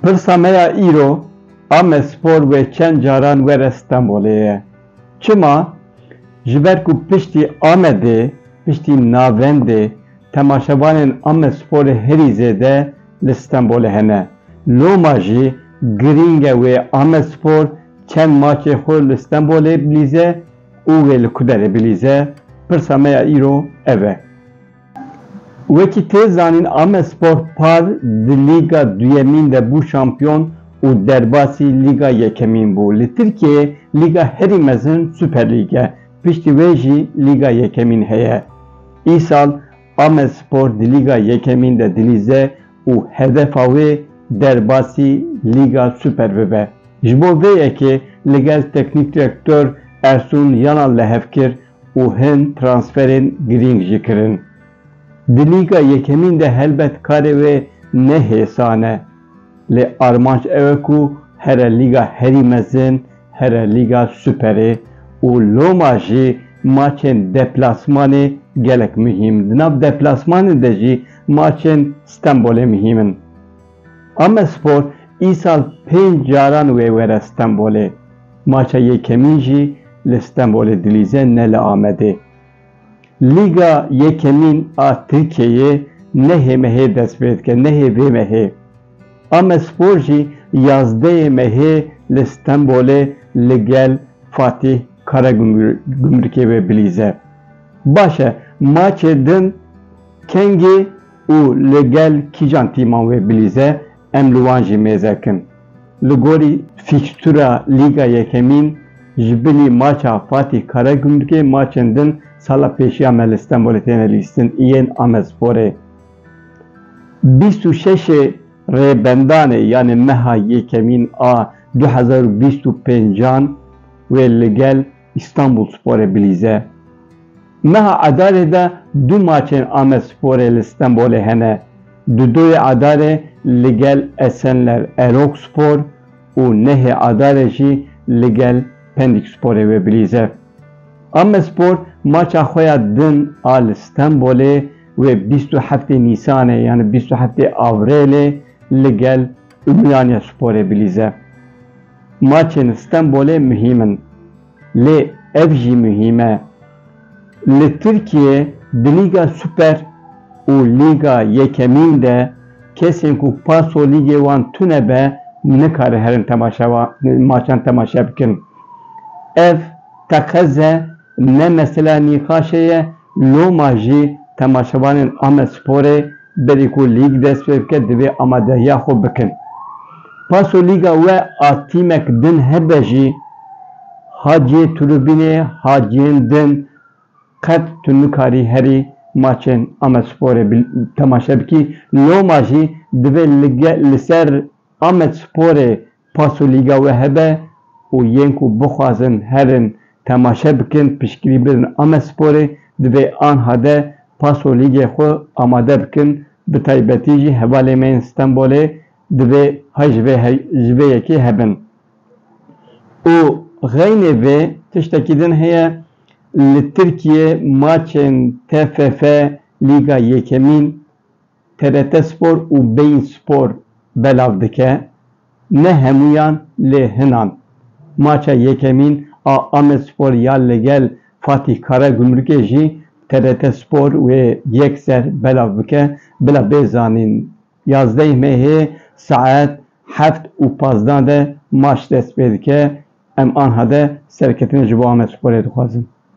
Pirsa me ya îro, Amespor wê çend caran were Stenbolê ye. Çima? Ji ber ku piştî Amedê, piştî navendê temaşevanên Amesporê herî zêde li Stenbolê hene. Loma jî girîng e wê Amespor çend maçê xwe li Stenbolê bilîze, û wê li ku derê bilîze, pirsa me ya îro ev e. Wekî tê zanîn Amespor par di Lîga Duyemîn de bû şampiyon û derbasî Lîga Yekemîn bû. Li Tirkiyeyê lîga herî mezin Superlîg e, piştî wê jî Lîga Yekemîn heye. Îsal Amedspor di Lîga Yekemîn de dilîze û hedefa wê derbasî Lîga Super bibe. Ji bo vê yekê li gel teknîk direktor Ersun Yanal lehev kir û hin transferên girîng jî kirin. Di Lîga Yekemîn de helbet karê wê ne hêsan e. Lê armanc ew e ku here Lîga herî mezin Here Lîga Superê û loma jî maçên deplasmanê gelek muhîm. Di nav deplasmanê de jî maçên Stenbolê muhîm in. Amedspor îsal pênc caran wê were Stenbolê. Maça yekemîn jî li Stenbolê dilîze ne li Amedê. Lîga yekemîn a Tirkiyeyê nehê mehê dest pê dike, nehê vê mehê. Amedspor jî yazdeyê mehê li Stenbolê li gel Fatîh Karagümrükê ve bilîze. Baş e maçê din kengî û li gel kîjan tîman wê bilîze Em li wan jî mêzek in. Li gorî fîkstûra Lîga Yekemîn ji bilî maça Fatîh Karagümrükê maçên din sala pêşiya me li Stenbolê têne lîstin yên Amedsporê. Bîst û şeşê Rêbendanê yanê meha Yekemîn a du hezar û bîst û pêncan wê li gel Îstanbulsporê bilîze. Meha Adarê de du maçên Amedsporê li Stenbolê hene. Di doyê Adarê li gel Esenler Erogspor û nehê Adarê jî li gel Pendîksporê wê bilîze. Amedspor maça xwe ya din a li Stenbolê wê bîst û heftê Nîsanê yanî bîst û heftê Avrêlê li gel Umyanyasporê bilîze. Maçên Stenbolê muhîm in, lê ev jî muhîm e. Li Tirkiyê di Lîga Super û Lîga Yekemîn de kesên ku paso lîgê wan tune be nikarin herin temaşevan maçan temaşe bikin. Ev teqeze Ne mesela nîqaşê ye, loma jî temaşevanên Amedsporê berî ku lîg dest pê bike divê amadehiya xwe bikin. Paso lîga we a tîmek din hebe jî haciyê tribûnê ha cihên din qet tu nikarî herî maçên Amedsporê temaşe bikî, loma jî divê li ser Amedsporê Paso lîga we hebe û yên ku bixwazin herin temaşe bikin piştgirî bidin Amesporê, divê anha de paso lîgê xwe amade bikin, bi taybetî jî hevalên me yên Stenbolê divê hay ji vê ji vê yekê hebin. Û xeynê vê tiştekî din heye, li Tirkiyê maçên TFF lîga yekemîn TRT Spor û Bein Spor belav dike, ne hemûyan lê hinan. Maça yekemîn a Amedspor ya li gel Fatîh Karagumrukê jî TRT Spor wê yek ser belav bike, bila bê zanîn. Yazdeh Mehê saet heft û pazdeh de maç dest pê dike, em anha de serketine ji bo Amedsporê dixwazin.